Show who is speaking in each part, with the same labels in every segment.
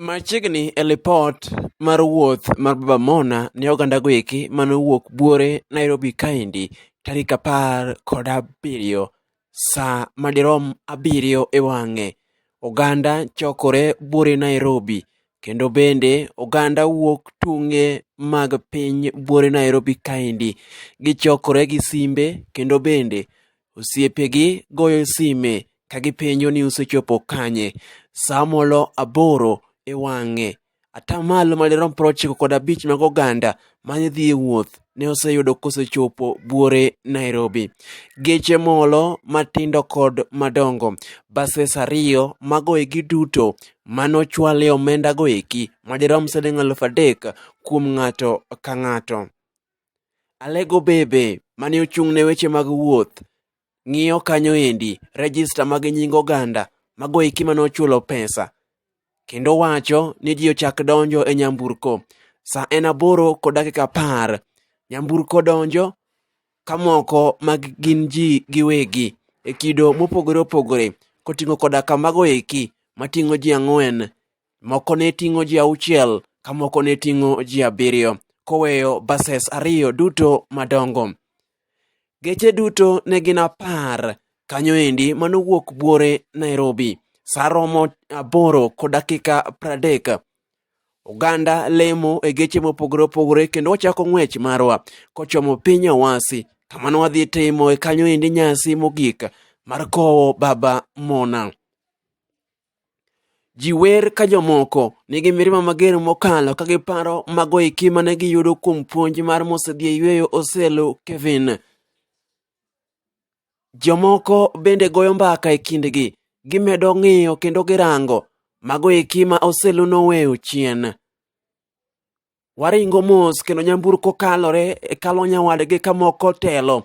Speaker 1: Machiegni e lipot mar wuoth mar Baba Mona ne oganda goeki mane owuok buore Nairobi kaendi tarik apar kod abiriyo sa madirom abiriyo e wang'e. Oganda chokore buore Nairobi kendo bende oganda wuok tunge mag piny buore Nairobi kaendi. Gichokore gi simbe kendo bende Osiepegi goyo sime ka gipenjo ni usechopo kanye. Sa molo aboro e wang'e, atamalo madirom prochiko kod abich mag oganda mane dhi e wuoth ne oseyudo kosechopo buore Nairobi. Geche molo matindo kod madongo, bases ariyo mago eki duto mane ochwale omendago eki madirom siling' aluf adek kuom ng'ato ka ng'ato. Alego Bebe mane ochung' ne weche mag wuoth ng'iyo kanyo endi rejista mag nying oganda mago eki mane ochulo pesa kendo wacho ni ji ochak donjo e nyamburko sa en aboro kod dakika apar nyamburko donjo ka moko mag gin ji giwegi e kido mopogore opogore koting'o koda ka mago eki mating'o ji ang'wen Moko ne ting'o ji auchiel, ka moko ne ting'o ji abiriyo, koweyo bases ariyo duto madongo. Geche duto ne gin apar kanyo endi manowuok buore Nairobi. Sa romo aboro kod dakika pradek. Oganda lemo e geche mopogore opogore kendo wachako ng'wech marwa kochomo piny Awasi kamano wadhi timo e kanyo endi nyasi mogik mar kowo Baba Mona. Ji wer ka jomoko nigi mirima mager mokalo ka giparo mago eki mane giyudo kuom puonj mar mosedhi e yueyo oselo Kevin. Jomoko bende goyo mbaka e kindgi, gimedo ng'iyo kendo girango mago eki ma oselo noweyo chien. Waringo mos kendo nyamburko kalore e kalo nyawadgi ka moko telo.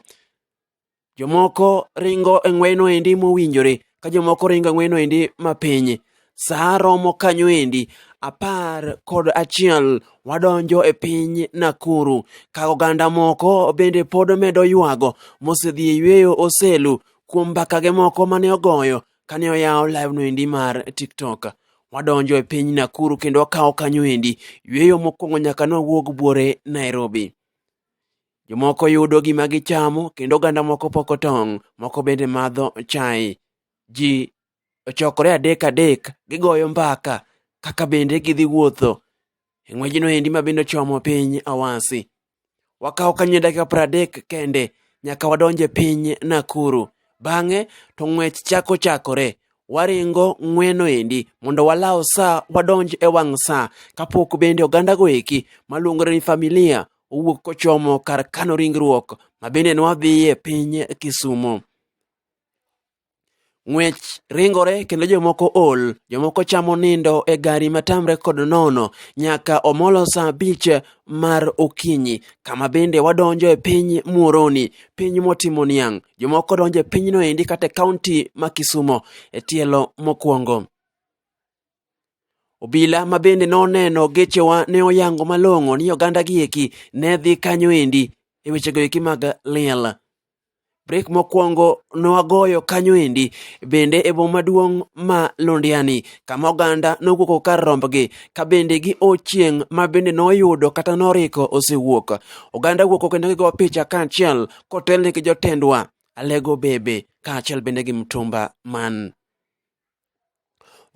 Speaker 1: Jomoko ringo e ng'weyno endi mowinjore ka jomoko ringo e ng'weyno endi mapiny. Sa romo kanyo endi apar kod achiel wadonjo e piny Nakuru ka oganda moko bende pod medo ywago mosedhi e yweyo oselu kuom mbakage moko mane ogoyo kane oyawo live no endi mar TikTok. Wadonjo e piny Nakuru kendo wakawo kanyo endi yweyo mokwongo nyaka ne wawuog buore Nairobi. Jomoko yudo gima gichamo kendo oganda moko poko tong', moko bende madho chai. Ji ochokore adek adek gigoyo mbaka kaka bende gidhi wuotho e ng'wejno endi ma bende ochomo piny Awasi. Wakawo kanye dakika pradek kende nyaka wadonje piny Nakuru. Bang'e to ng'wech chako chakore. Waringo ng'weno endi mondo walaw sa wadonj e wang' sa kapok bende ogandago eki maluongore ni familia owuok kochomo kar kano ringruok mabende nwadhiye piny Kisumo. Ng'wech ringore kendo jomoko ol, jomoko chamo nindo e gari matamre kod nono nyaka omolo saa abich mar okinyi, kama bende wadonjo e piny Muoroni, piny motimo niang'. Jomoko donjo e pinyno endi kata e kaunti ma Kisumo e tielo mokwongo. Obila ma bende noneno gechewa ne oyango malong'o ni oganda gi eki ne dhi kanyo endi e wechego eki mag liel. Brek mokwongo nwagoyo kanyo endi bende e boma maduong' ma Londiani kama oganda nowuoko kar rombgi ka bende gi ochieng' ma bende noyudo kata noriko osewuok. Oganda wuoko kendo gigo picha kaachiel kotelne gi jotendwa Alego Bebe kaachiel bende gi Mtumba Man.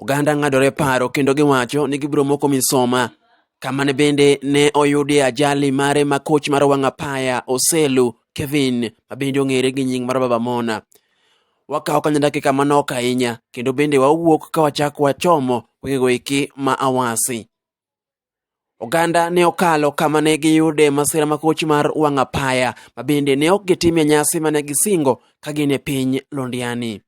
Speaker 1: Oganda ng'adore paro kendo giwacho ni gibiro moko misoma kamane bende ne oyudie ajali mare ma koch mar wang' apaya Oselu Kevin ma bende ong'ere gi nying mar Baba Mona. Wakawo kanya dakika manok ahinya kendo bende wawuok ka wachako wachomo wengego eki ma Awasi. Oganda ne okalo kama ne giyude masira makoch mar wang' apaya ma bende ne ok gitimie nyasi mane gisingo ka gin e piny Londiani.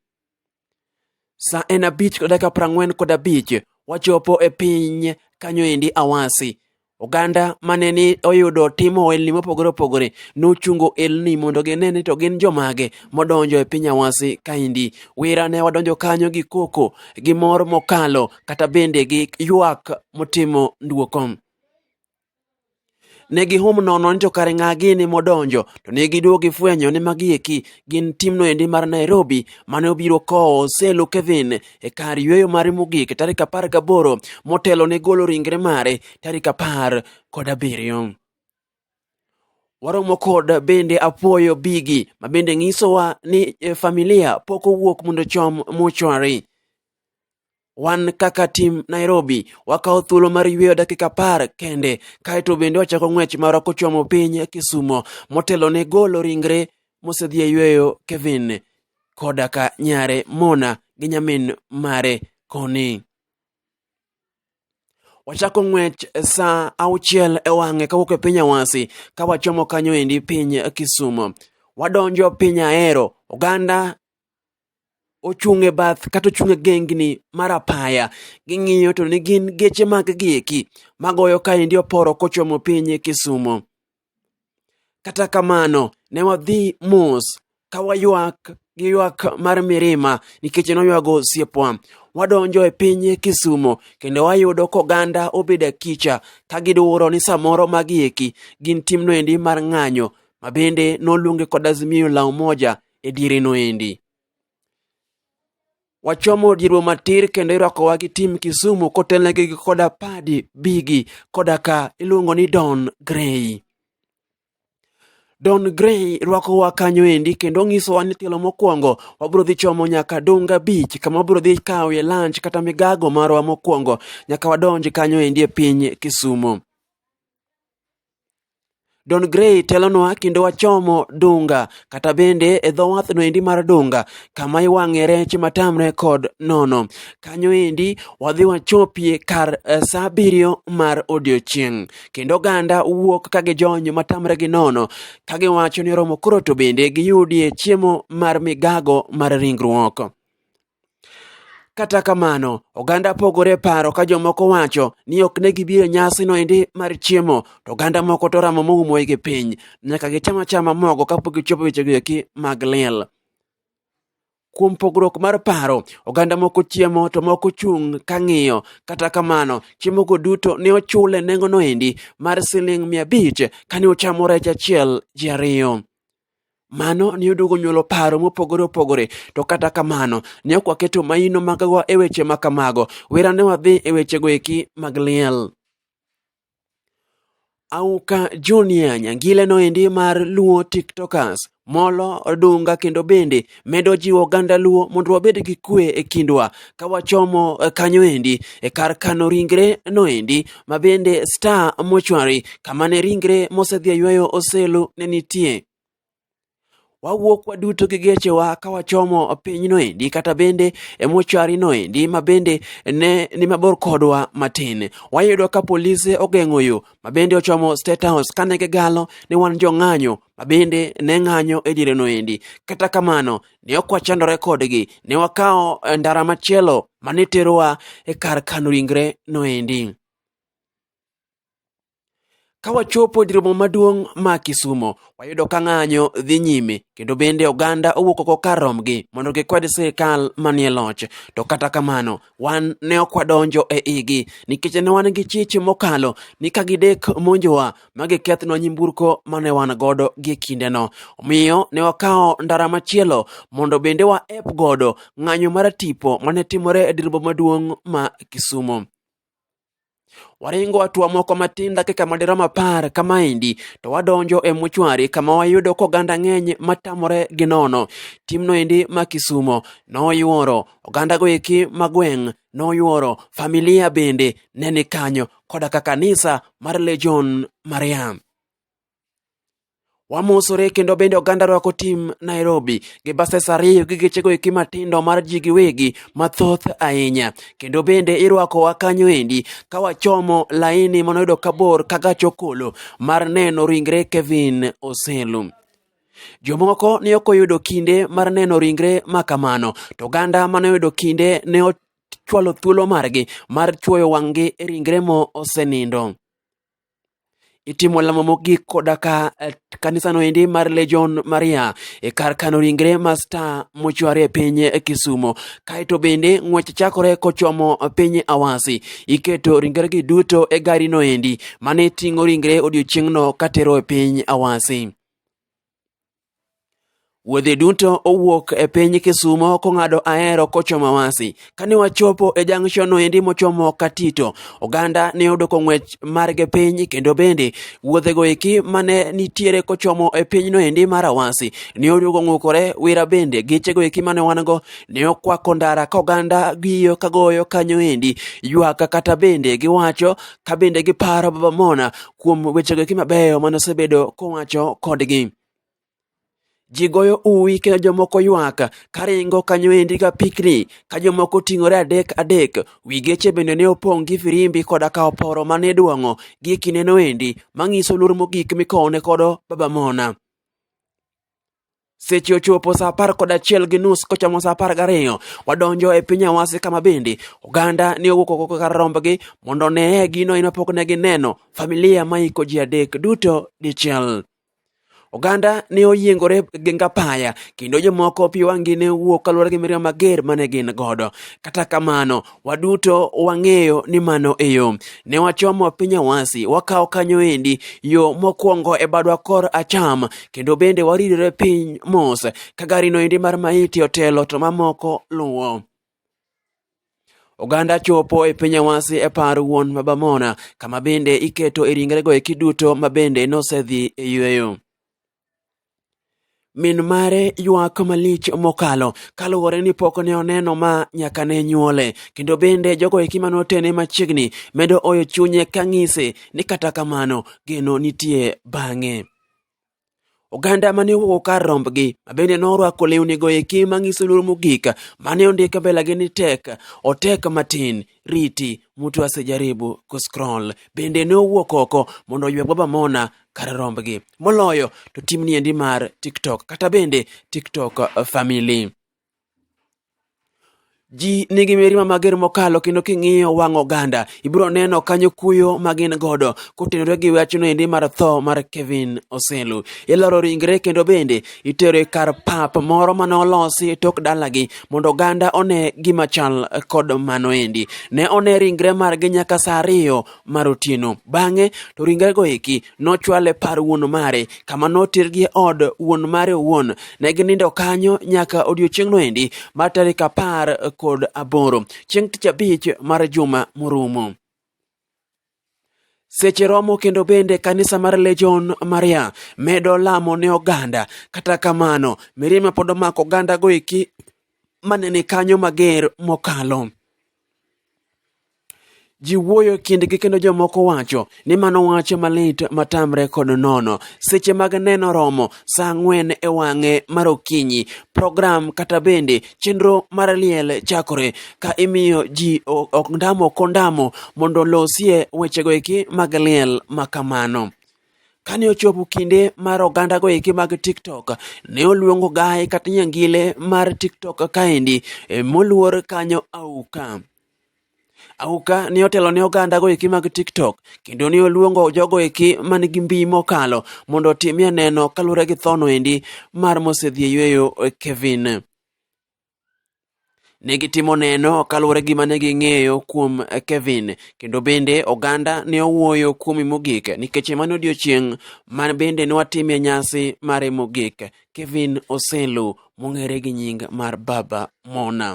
Speaker 1: Sa en abich kod dakika prang'wen kod abich wachopo e piny kanyo endi Awasi. Oganda mane ni oyudo timo ohelni mopogore opogore nochungo elni mondo gine ni to gin jomage modonjo e piny Awasi kaendi. Wira ne wadonjo kanyo gi koko gi mor mokalo kata bende gi ywak motimo nduoko. Ne gihum nono ni to kare ng'a gini modonjo to ne giduogo gifwenyo ni magi eki gin timno endi mar Nairobi mane obiro kowo Selo Kevin e kar yueyo mare mogik tarik apar gaboro motelo ne golo ringre mare tarik apar kod abiriyo. Waromo kod bende apuoyo bigi ma bende ng'isowa ni eh, familia pok owuok mondo chom mochwari. wan kaka tim Nairobi wakawo thuolo mar yweyo dakika par kende kaeto bende wachako ng'wech marwa kochomo piny Kisumo motelo ne golo ringre mosedhi e yweyo Kevin koda ka nyare Mona gi nyamin mare Koni. Wachako ng'wech saa auchiel e wang'e kawuok e piny Awasi ka wachomo kanyo endi piny Kisumo. Wadonjo piny Ahero, oganda ochung' e bath kata ochung' e gengni mar apaya ging'iyo to ne gin geche mag gieki magoyo kaendi oporo kochomo piny e Kisumo. Kata kamano ne wadhi mos ka waywak gi ywak mar mirima nikech noywago osiepwa. Wadonjo e piny Kisumo kendo wayudo koganda obedo e kicha ka gidwuro ni samoro magieki gin timno endi mar ng'anyo mabende noluonge kod Azimio la Umoja e diere noendi. Wachomo dierwa matir kendo irwakowa gi tim Kisumu kotelnegi gi koda Padi Bigi koda ka iluongo ni Don Gray. Don Gray rwakowa kanyo endi kendo onyisowa ni tielo mokwongo wabiro dhi chomo nyaka Dunga Beach kama wabiro dhi kawoe lunch kata migago marwa mokwongo nyaka wadonj kanyo endi e piny Kisumu. Don Gray telonwa kendo wachomo Dunga kata bende e dho wathno endi mar Dunga kama iwang'e rech matamre kod nono. Kanyo endi wadhi wachopie kar eh, sa abiriyo mar odiochieng' kendo oganda wuok ka gijony matamre gi nono ka giwacho ni oromo koro to bende giyudie chiemo mar migago mar ringruok. Kata kamano, oganda pogore paro ka jomoko wacho ni ok ne gibiro nyasi no endi mar chiemo, to oganda moko to ramo moumo gi piny. Nyaka gicham achama mogo kapok gichopo wechego eki mag liel. Kuom pogruok mar paro, oganda moko chiemo to moko chung' ka ng'iyo. Kata kamano, chiemogo duto ne ochule nengono endi mar siling' mia abich kane ochamo rech achiel ji ariyo. Mano ne oduogo nyuolo paro mopogore opogore, to kata kamano ne ok waketo maino magwa e weche ma kamago. Wera ne wadhi e wechego eki mag liel. Auka Junior Nyangile noendi mar Luo TikTokers, Molo Odunga kendo bende medo jiwo oganda Luo mondo wabed gi kwe e kindwa ka wachomo eh, kanyo endi e kar kano ringre no endi ma bende Star Mortuary kama ne ringre mosedhi yweyo Oselu ne nitie wawuok waduto gi gechewa ka wachomo pinyno endi kata bende e mochari no endi ma bende ne ni mabor kodwa matin wayudo ka polise ogeng'o yo ma bende ochomo state house kane gigalo ni wan jong'anyo ma bende ne ng'anyo e diereno endi. Kata kamano, ne ok wachandore kodgi, ne wakawo eh, ndara machielo ma ne terowa e kar kano ringre no endi. Ka wachopo dir boma maduong' ma Kisumo, wayudo ka ng'anyo dhi nyime kendo bende oganda owuok oko kar romgi mondo gikwed sirikal manie loch. To kata kamano, wan ne ok wadonjo e igi nikech ne wan gi chich mokalo ni ka gidek monjowa ma gikethnwa nyimburko ma ne wan godo gie kindeno omiyo ne wakawo ndara machielo mondo bende waep godo ng'anyo mar tipo ma ne timore e dir boma maduong' ma kisumo Waringo atua moko matin dakika madirom apar kamaendi to wadonjo e muchwari kama wayudo koganda ng'eny matamore gi nono. Timno endi ma Kisumo noyuoro ogandago eki ma gweng' noyuoro familia bende ne ni kanyo koda ka kanisa mar Legion Mariam. wamosore kendo bende oganda rwako tim Nairobi gi bases ariyo gi gechego eki matindo mar ji giwegi mathoth ahinya kendo bende irwakowa kanyo endi ka wachomo laini manoyudo kabor ka gach okolo mar neno ringre Kevin Oselu. Jomoko ne ok oyudo kinde mar neno ringre ma kamano to oganda mane oyudo kinde ne ochwalo thuolo margi mar chwoyo wang'gi e ringre mo osenindo. itimo lamo mogik koda ka eh, kanisano endi mar Legion Maria e kar kano ringre masta mochwari e piny eh, Kisumo. Kaeto bende ng'wech chakore kochomo eh, piny Awasi, iketo ringregi duto e garino endi mane ting'o ringre odiechieng'no katero e piny Awasi. Wuodhe duto owuok e piny Kisumo kong'ado Ahero kochomo Awasi. Kane wachopo e junction no endi mochomo Katito, oganda ne oyudo kong'wech marge piny kendo bende wuodhego eki mane nitiere kochomo e piny no endi mar Awasi ne oyudo kong'ukore wira bende gechego eki mane wan go ne okwako ndara ka oganda giyo kagoyo kanyo endi ywak kata bende giwacho ka bende giparo Baba Mona kuom wechego eki mabeyo mane osebedo kowacho kodgi ji goyo uwi kendo jomoko ywak karingo kanyo endi ka pikni ka jomoko ting'ore adek adek wi geche bende ne opong' gi firimbi koda ka oporo mane idwong'o gi e kindeno endi mang'iso luor mogik mikowne kodo baba mona Seche ochopo saa apar kod achiel gi nus kochomo saa apar gariyo wadonjo e piny Awasi kama bende oganda ne owuok oko kar rombgi mondo oneye gino ino pok ne gineno familia ma iko ji adek duto dichiel. Oganda ne oyiengore gi ngapaya kendo jomoko pi wang'gi ne wuok kaluwore gi mirima mager mane gin godo. Kata kamano waduto wang'eyo ni mano e yo. Ne wachomo piny awasi, wakawo kanyo endi yo mokwongo e badwa kor acham, kendo bende waridore piny mos, ka garino endi mar maiti otelo to mamoko luwo. Oganda chopo e piny awasi e par wuon Babamona, kama bende iketo e ringrego eki duto ma bende nosedhi e yueyo. min mare ywak malich mokalo kaluwore ni pok ne oneno ma nyaka ne nyuole kendo bende jogo eki mane otene machiegni medo oyo chunye ka ng'ise ni kata kamano geno nitie bang'e oganda mane owuok kar rombgi mabende norwako lewnigo eki mang'iso luor mogik mane ondik mbelagi ni tek otek matin riti mtu asijaribu kuscroll bende ne owuok oko mondo oyweg baba mona kar rombgi moloyo to timni endi mar tiktok kata bende tiktok uh, family ji nigi mirima mager mokalo kendo king'iyo wang' oganda ibiro neno kanyo kuyo ma gin godo kotenore gi wachno endi mar tho mar kevin oselu iloro ringre kendo bende itere kar pap moro mane olosi e tok dalagi mondo oganda one gima chal kod mano endi. Ne one ringre margi nyaka sa ariyo mar otieno. Bang'e to ringrego eki nochwale par wuon mare kama notergi e od wuon mare owuon. Ne ginindo kanyo nyaka odiechieng'no endi mar tarik apar kod aboro chieng' tich abich mar juma morumo. Seche romo kendo bende kanisa mar Legion Maria medo lamo ne oganda. Kata kamano, mirima pod omako oganda goeki mane ni kanyo mager mokalo. Ji wuoyo kindgi kendo jomoko wacho ni mano wach malit matamre kod nono. Seche mag neno romo saa ang'wen e wang'e mar okinyi, program kata bende chenro mar liel chakore ka imiyo ji ok ndamo kondamo mondo olosie wechego eki mag liel ma kamano. Kane ochopo kinde mar oganda go eki mag TikTok, ne oluongo gaye kata nyangile mar TikTok kaendi e, moluor kanyo auka. Auka ne otelo ne oganda go eki mag TikTok kendo ne oluongo jogo eki man gi mbi mokalo mondo otimie neno kaluwore gi thono endi mar mosedhi e yueyo e Kevin. Ne gitimo neno kaluwore gi mane ging'eyo kuom e Kevin kendo bende oganda ne owuoyo kuome mogik nikech mano odiochieng' ma bende ne watimie nyasi mare mogik Kevin Oselu mong'ere gi nying mar Baba Mona.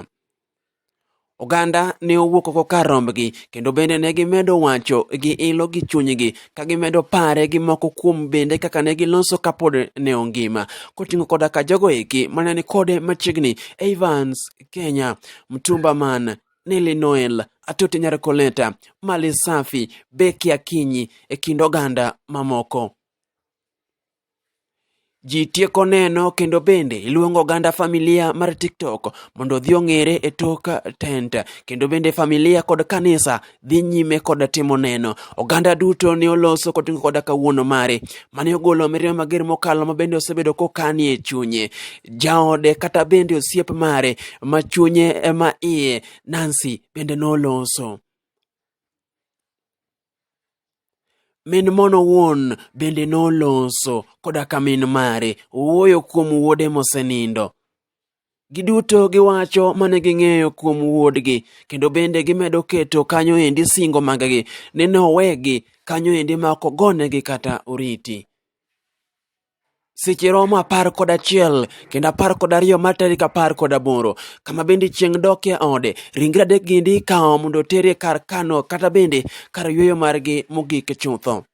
Speaker 1: Oganda ne owuok oko kar rombgi, kendo bende ne gimedo wacho gi ilo gi chunygi, ka gimedo pare gi moko kuom bende kaka ne giloso kapod ne ongima, koting'o koda ka jogo eki mane ni kode machiegni, Evans Kenya, Mtumba Man, Nelly Noel, Atoti Nyarkoleta, Mali Safi, Becky Akinyi, e kind oganda mamoko. Ji tieko neno kendo bende iluongo oganda familia mar TikTok mondo odhi ong'ere e tok tent. Kendo bende familia kod kanisa dhi nyime kod timo neno. Oganda duto ne oloso koting'o koda kawuono mare mane ogolo mirima mager mokalo ma bende osebedo kokani e chunye. Jaode kata bende osiep mare ma chunye ema iye Nancy bende noloso. Min mono wuon bende noloso koda ka min mare owuoyo kuom wuode mosenindo. Giduto giwacho mane ging'eyo kuom wuodgi kendo bende gimedo keto kanyo endi singo maggi ni nowegi kanyo endi ma ok ogonegi kata oriti. Seche romo apar kod achiel kendo apar kod ariyo mar tarik apar kod aboro kama bende chieng' dok e ode ringre adek gindi ikawo mondo oter e kar kano kata bende kar yueyo margi mogik chutho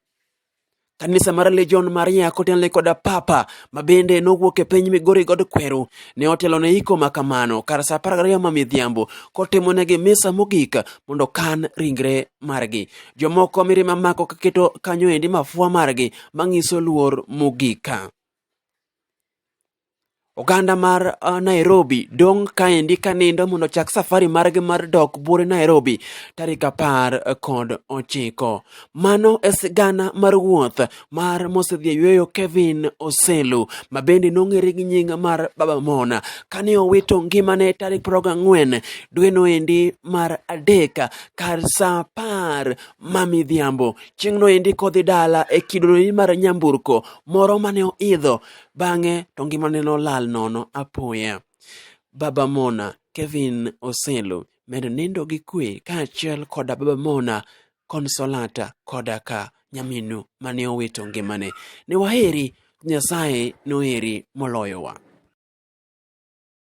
Speaker 1: kanisa mar legion maria kotenle koda papa ma bende nowuok e piny migori god kweru ne otelo ne iko ma kamano kar sa apar gariyo ma midhiambo kotimonegi misa mogik mondo kan ringre margi jomoko mirima mako kaketo kanyo endi mafua margi manyiso luor mogika. Oganda mar uh, Nairobi dong' kaendi ka nindo mondo chak safari margi mar dok bure Nairobi tarik apar kod ochiko. Mano e sigana mar wuoth mar mosedhi yueyo Kevin Oselu ma bende nong'ere gi nying mar Baba Mona kane owito ngimane tarik proga ang'wen dweno endi mar adek kar sa apar ma midhiambo Chieng'no endi kodhi dala e kidoni mar nyamburko moro mane oidho, bang'e to ngimane nolal nono apoya. Baba Mona, Kevin Oselu, medo nindo gi kwe kaachiel koda Baba Mona, Consolata koda ka nyaminu mane owito ngimane. Ne waheri, Nyasaye noheri moloyowa.